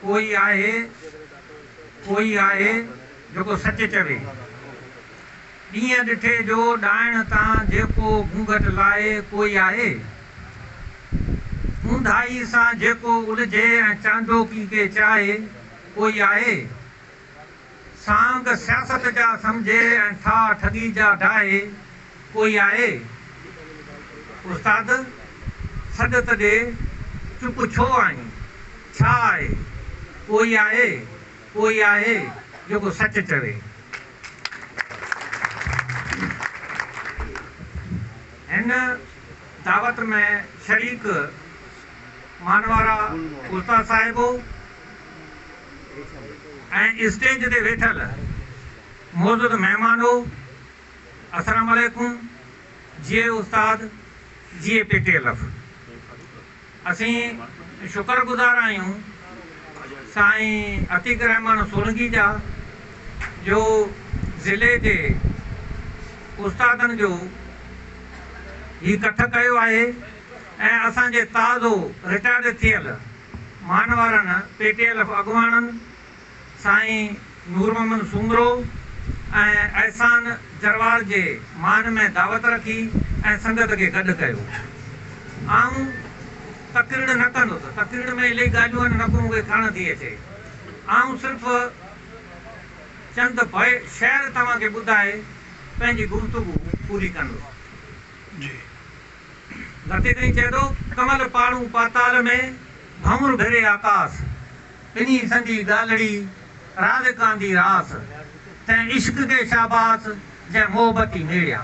ڪو ئي آهي، ڪو ئي آهي جيڪو سچ چوي. ڏينهن ڏٺي جو ڏائڻ تان جيڪو گهونگهٽ لاهي، ڪو ئي آهي. اونداهي سان جيڪو الجهي ۽ چانڊوڪي کي چاهي، ڪو ئي آهي. سانگ سياست جا سمجهي ۽ ٺاهه ٺڳي جا ڊاهي ڪوئي آهي؟ استاد سڏ ته ڏي چپ ڇو آهين؟ ڇا آهي؟ ڪوئي آهي؟ ڪوئي آهي جيڪو سچ چوي؟ هن دعوت ۾ شريڪ مانوارا استاد صاحب ۽ اسٽيج تي ويٺل معزز مهمانو السلام عليڪم جيئي استاد جيئي پي ٽي ايل ايف اسين شڪر گذار آهيون سائين عتيق الرحمان سولنگي جا جو ضلعي جي استادن جو هي ڪٺ ڪيو آهي ۽ اسان جي تازو رٽائرڊ ٿيل مان وارن پي ٽي ايل ايف اڳواڻن سائين نور محمد سومرو ۽ احسان جروار جي مان ۾ دعوت رکي ۽ سنگت کي گڏ ڪيو. آئون تقريڙ نه ڪندس، تقريڙ ۾ الائي ڳالهيون آهن نڪو مون کي ڪهڻ ٿي اچي. آئون صرف چند بي شعر توهان کي ٻڌائي پنهنجي گفتگو پوري ڪندس. مٿي تائين چئي ٿو، ڪمل پاڙون پاتال ۾، ڀنور ڀري آڪاس. ڪني سندي ڳالهڙي، راز ڪاندي راس. تنهن عشق کي شاباس، جنهن محبتي ميڙيا.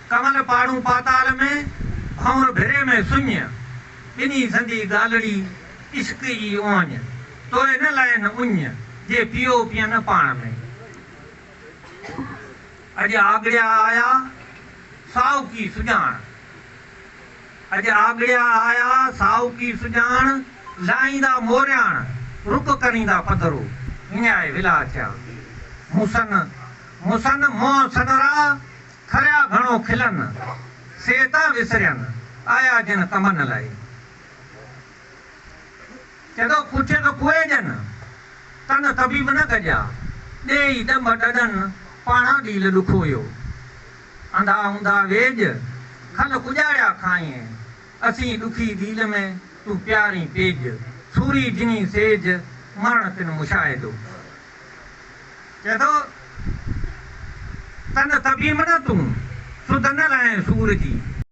ڪمل پاڙون پاتال ۾، ڀنور ڀري ۾ سڃ. ڪني سندي ڳالهڙي، عشق ئي اوهڃ. توء نه لائين اڃ، جي پيئو پيئن پاڻ ۾. اڄ آڳڙيا آيا ساهوڪي سڄاڻ. اڄ آڳڙيا آيا ساهوڪي سڄاڻ، لاهيندا مورياڻ، رڪ ڪريندا پڌرو، هنيائي ولا ٿيا. موسن، موسن، منهن سنرا، کريا گهڻو کلن، سي تان وسرين، آيا جن ڪمن لئي. چئه ٿو پڇي ٿو ڪوئي ڄن، تن طبيب نه گڏيا، ڏيئي ڏنڀ ڏڏن، پاڻان ڏيل ڏک هيو. انڌا هوندا ويڄ، کل ڪڄاڙيا کائين، اسين ڏکي ڏيل ۾، تون پيارين پيڄ، سوري جني سيج، مرڻ تن مشاهدو. چئه ٿو تن طبيب نه تون، سڌ نه لهين سور جي.